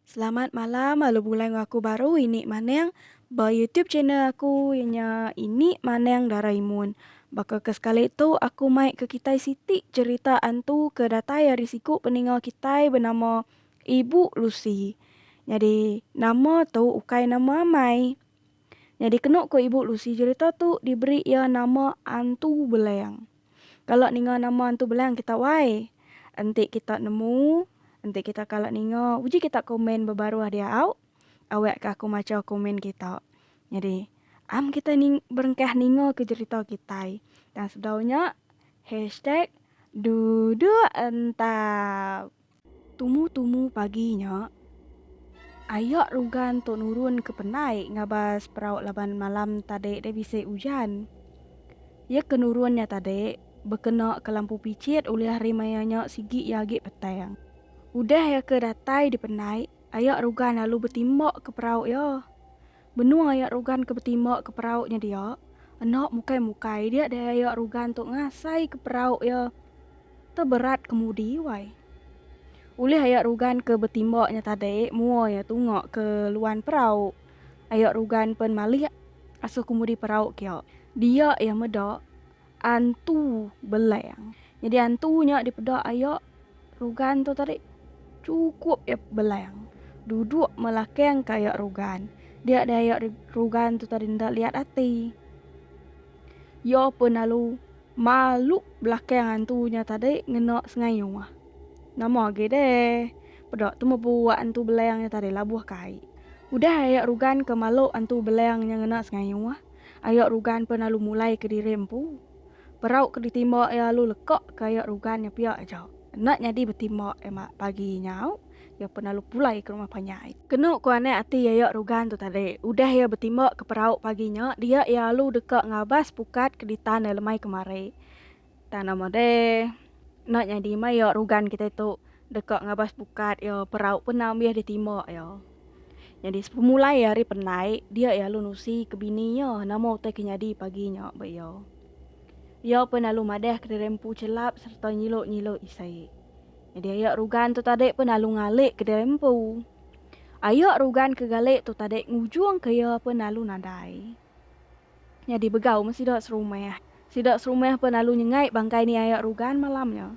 Selamat malam lalu bemulai enggau aku baru ini maneng ba YouTube channel aku iya nya ini maneng Doraemon. Baka ke sekali tu aku mai ke kitai siti cherita antu ke datai ari siku peninga kitai benama Ibu Lucy, Nyadi nama tu ukai nama amai. Nyadi kenu ku Ibu Lucy jerita tu diberi iya nama Antu Beleng. Kala ninga nama Antu Beleng kita wai. Enti kita nemu, enti kita kala ninga uji kita komen bebaruh diau, awek ka aku macha komen kita. Nyadi am kita ning berengkah ninga ke jerita kitai. Tang sebedau nya, hashtag duduk entap. Tumu-tumu pagi nya, ayak rugan tu nurun ke penai ngabas perau laban malam tadi deh bisi ujan. Iya ke nurun nya tadi bekena ke lampu pichit ulih hari maya nya sigi iya agi petang. Udah iya ke datai di penai, ayak rugan lalu betimbak ke perau iya. Benung aya rugan ke betimba ke perau nya dia, enda mukai mukai dia deh aya rugan tu ngasai ke perau iya teberat kemudi wai. Ulih aya rugan ke betimba nya tadi mua iya tunga ke luan perau, aya rugan pen malih asuh kemudi perau kia. Dia iya meda Antu Belang. Nyadi antu nya dipeda aya Rugan tu tadi chukup iya Belang duduk melakang ke aya Rugan. Dia deh aya Rugan tu tadi enda liat ati. Iya pun lalu malu belakang antu nya tadi ngena sengayuh. Nama agi deh peda tu meh buak antu Belang nya tadi labuh kai. Udah aya Rugan ke malu antu Belang nya ngena sengayuh. Ayok Rugan pen alu mulai ke diri empu. Perau ke ditimba iya alu leka ke ayok Rugan nya pia aja. Enda nyadi betimba iya pagi nyau, iya pen alu pulai ke rumah panyai. Kenu ku anak ati ayok Rugan tu tadi, udah iya betimba ke perau pagi nya, dia iya alu deka ngabas pukat ke ditan iya lemai kemari. Tang nama deh enda nyadi meh iya rugan kitai tu deka ngabas bukat iya perau pena mih ditima iya. Nyadi sepemulai iya ari penai dia iya lalu nusi ke bini iya nama utai ke nyadi pagi nya ba iya. Iya pun lalu madah kediri empu chelap sereta nyilu-nyilu isi. Nyadi ayak rugan tu tadi pun lalu ngalik kediri empu. Ayak rugan ke galik tu tadi ngujung ke iya pun lalu nadai. Nyadi begau meh sida serumah. Sida serumah peh lalu nyengai bangkai ni aya rugan malam nya.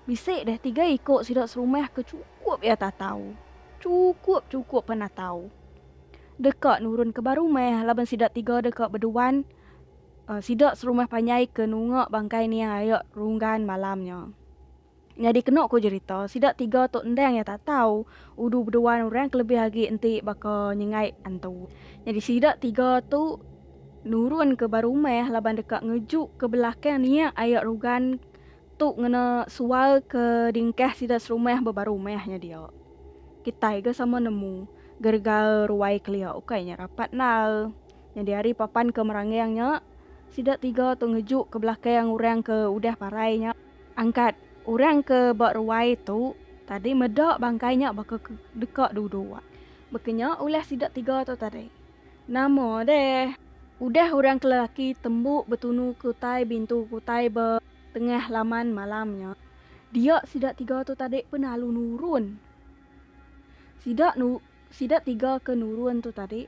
Bisi deh tiga iko sida serumah ke chukup iya tatau. Chukup-chukup penatau. Deka nurun ke ba rumah laban sida tiga deka beduan sida serumah panjai ke nunga bangkai ni aya rugan malam nya. Nyadi kenu ku jerita, sida tiga tu endang iya tak tau udu beduan orang kelebih agi enti baka nyengai antu. Nyadi sida tiga tu nurun ke ba rumah laban deka ngeju ke belakang niak aya rugan tu ngena sual ke dingkah sida serumah ba baru meh nya dia. Kitai ga sama nemu gerga ruai kelia ukai nya rapat endar. Nyadi ari papan ke merangang nya sida tiga tu ngeju ke belakang orang ke udah parai nya. Angkat orang ke ba ruai tu tadi meda bangkai nya baka ke deka duduk. Baka nya ulah sida tiga tu tadi. Nama deh. Udah orang ke lelaki tembu betunu ke utai bintu ke utai ba tengah laman malam nya, dia sida tiga tu tadi pun lalu nurun. Sida nu sida tiga ke nurun tu tadi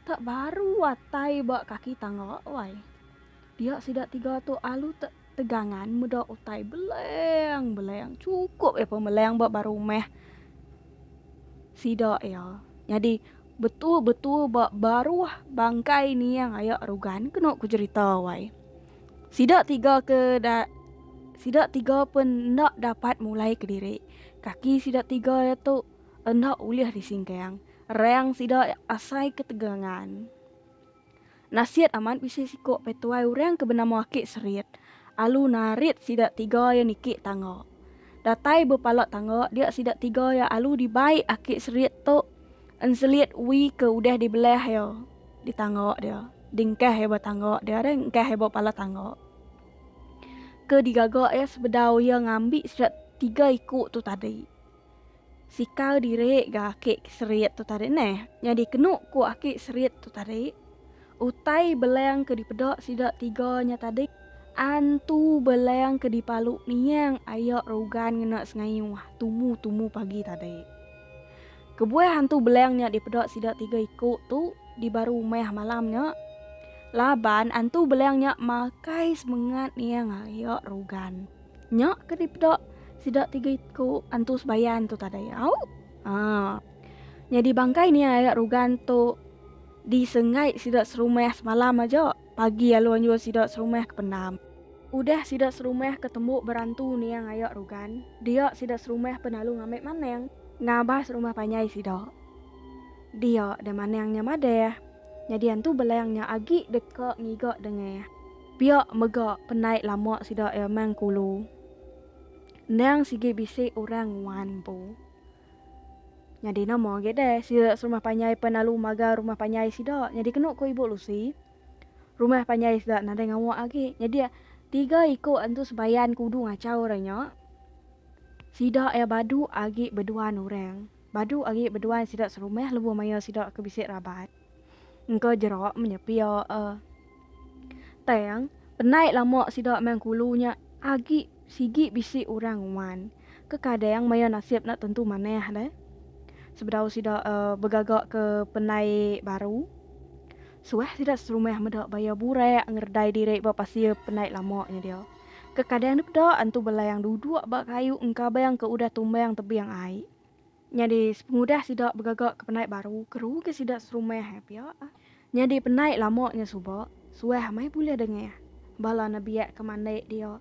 tak baru atai ba kaki tangga wai. Dia sida tiga tu alu tak Tegangan meda utai beleng beleng chukup iya pemeleng ba ba rumah sida iya. Nyadi betul betul ba baruh bangkai niang aya rugan kenu ku jerita wai. Sida tiga ke da sida tiga pen enda dapat mulai kediri. Kaki sida tiga iya tu enda ulih disingkang. Rang sida asai ketegangan. Nasiat amat bisi siko petuai urang ke benama Aki Serit alu narit sida tiga iya niki tangga. Datai bepala tangga dia sida tiga iya alu di bai Aki Serit tu enselit ui ke udah di belah iya di tangga dia di engkah iya ba tangga dia deh engkah iya ba pala tangga ke di gaga iya sebedau iya ngambi sida tiga iko tu tadi. Sikau diri ga aki ke serit tu tadi neh. Nyadi kenu ku aki serit tu tadi, utai beleng ke dipeda sida tiga nya tadi antu beleng ke dipalu niang aya rugan ngena sengayuh tumu-tumu pagi tadi. Kebuah antu beleng nya dipeda sida tiga iku tu di baru meh malam nya laban antu beleng nya makai semengat niang aya rugan. Nya ke dipeda sida tiga iku antu sebayan tu tadai. Au. Ha. Nyadi bangkai ni aya rugan tu disengai sida serumah semalam aja. Pagi alu anjur sida serumah ke pendam. Udah sida serumah ke tembu berantu niang aya rugan, dia sida serumah pen alu ngambi manang. Ngabah serumah panjai sida. Dia deh manang nya madah. Nyadi antu belang nya agi deka ngiga dengah. Pia mega penai lama sida iya meh engkulu. Endang sigi bisi orang nguan empu. Nyadi nama agi deh sida serumah panjai pen lalu magang rumah panjai sida. Nyadi kenu ku Ibu Lucy, rumah panjai sida nadai ngawa agi. Nyadi tiga iku antu sembayan kudu ngachau orang nya. Sida iya badu agi beduan orang. Badu agi beduan sida serumah lebuh maya sida ke bisi raban. Engka jerak menya pia ah. Tang, penai lama sida meh kulu nya agi sigi bisi orang nguan. Kekadang maya nasib enda tentu manah deh. Sebedau sida uh, begaga ke penai baru, suah sida serumah meda bayar burak ngeredai diri ba pasir penai lama nya dia. Kekadang dipeda antu belang duduk ba kayu engkabang ke udah tumbang tebing ai. Nyadi sepengudah sida begaga ke penai baru keruga sida serumah ai pia. Nyadi penai lama nya suba suah meh bulih dengah bala nebiak ke mandi dia.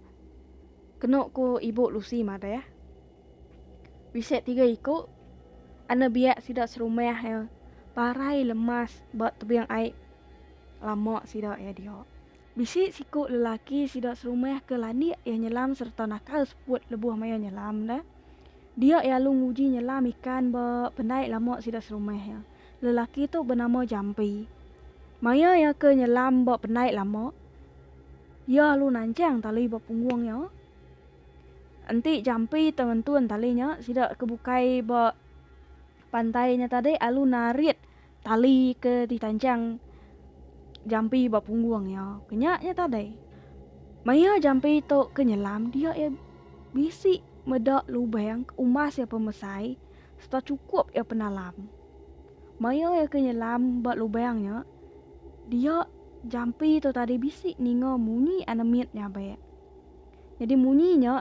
Kenu ku ibu Lucy madah, bisi tiga iku anebiak sida serumah iya parai lemas ba tebing ai lama sida iya dia. Bisi siku lelaki sida serumah ke landik iya nyelam sereta nakal seput lebuh maya nyelam enda. Dia iya alu nguji nyelam ikan ba pendai lama sida serumah iya. Lelaki tu benama Jampi. Maya iya ke nyelam ba pendai lama, iya alu nanchang tali ba punggung iya. Enti Jampi tau ngentun tali nya, sida ke bukai ba pantai nya tadi alu narit Tali ke ditanchang Jampi ba punggung iya ke nya nya tadai. Maya Jampi tu ke nyelam dia iya bisi meda lubang ke umbas iya pemesai serta chukup iya penalam. Maya iya ke nyelam ba lubang nya dia Jampi tu tadi bisi ninga munyi anemit nyabak. Nyadi munyi nya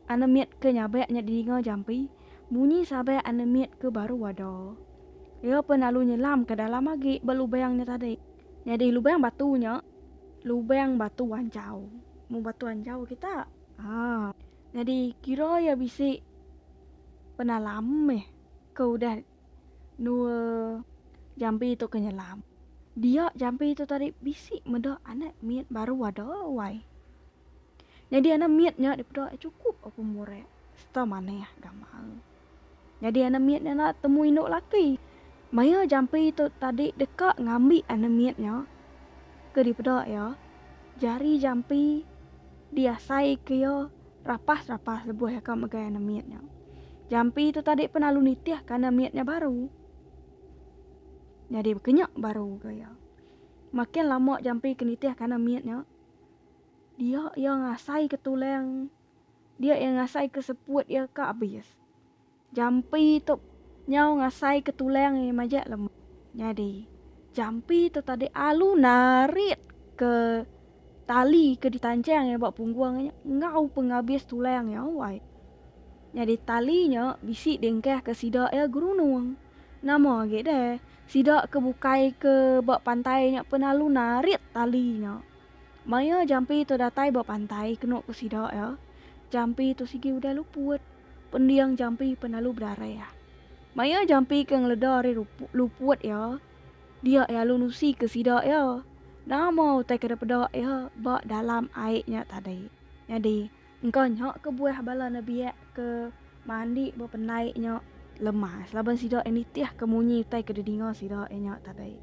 anemit ke nyabak nya didinga Jampi Munyi sabai anemit ke baru wada. Iya pun lalu nyelam ke dalam agi ba lubang nya tadi. Nyadi lubang batu nya lubang batu anjau. Mung batu anjau kita. Ha. Nyadi kira iya bisi penalam meh ke udah. Nua jampi tu ke nyelam. Dia jampi tu tadi bisi meda anak mit baru ada wai. Nyadi anak mit nya dipeda chukup aku murek serta manah gamal. Nyadi anak mit nya enda temu indu laki. Maya jampi tu tadi deka ngambi anak mit nya ke dipeda iya, jari jampi diasai ke iya. Rapas rapas lebuh aka megai anak mit nya. Jampi tu tadi pun lalu nitih ka anak mit nya baru. Nyadi bekenya baru ga iya. Makin lama jampi ke nitih ka anak mit nya. Dia iya ngasai ke tulang. Dia iya ngasai ke seput iya ka abis. Jampi tu nyau ngasai ke tulang iya majak lemu. Nyadi, jampi tu tadi alu narit ke tali ke ditanchang iya ba punggung nya enggau pengabis tulang iya awai. Nyadi tali nya bisi diengkah ke sida iya gerunung. Nama agi deh, sida ke bukai ke ba pantai nya pun alu narit tali nya. Maya jampi tu datai ba pantai kenu ku sida iya, jampi tu sigi udah luput. Pending jampi pan lalu bedarah. Maya jampi ke ngeleda ari luput iya, dia iya lalu nusi ke sida iya, nama utai ke dipeda iya ba dalam ai nya tadi. Nyadi. Engka nya kebuah bala nebiak ke mandi ba pendai nya lemas laban sida iya nitihka munyi utai ke didinga sida iya nya tadi.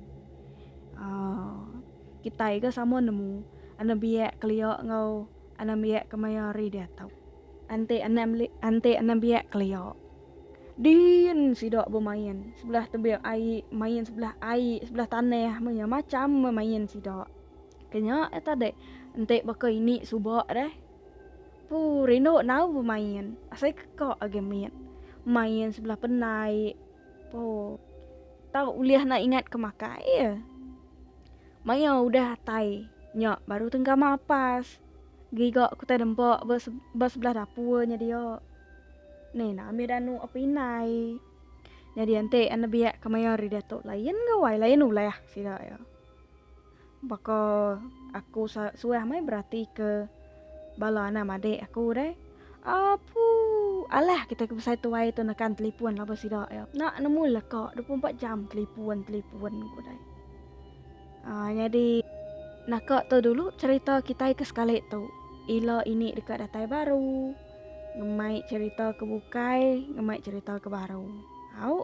Aaa kitai ga sama nemu anembiak kelia enggau anembiak ke maya hari diatu. Enti anembi enti anembiak kelia din sida bemain sebelah tebing ai main sebelah ai sebelah tanah meh nya macam memain sida. Ke nya eh tadi enti baka ini suba deh. Puu rindu nau bemain. Asai keka agi mit. Main sebelah penai. Puu. Tau ulih nak ingat ke makai ya. Maya udah atai nya baru tenggama apas. Giga ku tai dempa ba ba sebelah dapur nya dia. Ni na ambi danu apai indai. Nyadi enti anebiak ke maya hari diatu lain gawai lain ulah sida ya. Baka aku suah meh beratika bala anam adik aku deh. Apu, alah kita ke besai tuai tu nekan telefon laban sida ya. Nak nemu leka 24 jam telefon, telefon ku deh. Uh, jadi naka tu dulu cerita kita ke sekali tu. Ila ini deka datai baru. Ngemai cerita ke bukai, ngemai cerita ke baru. Au.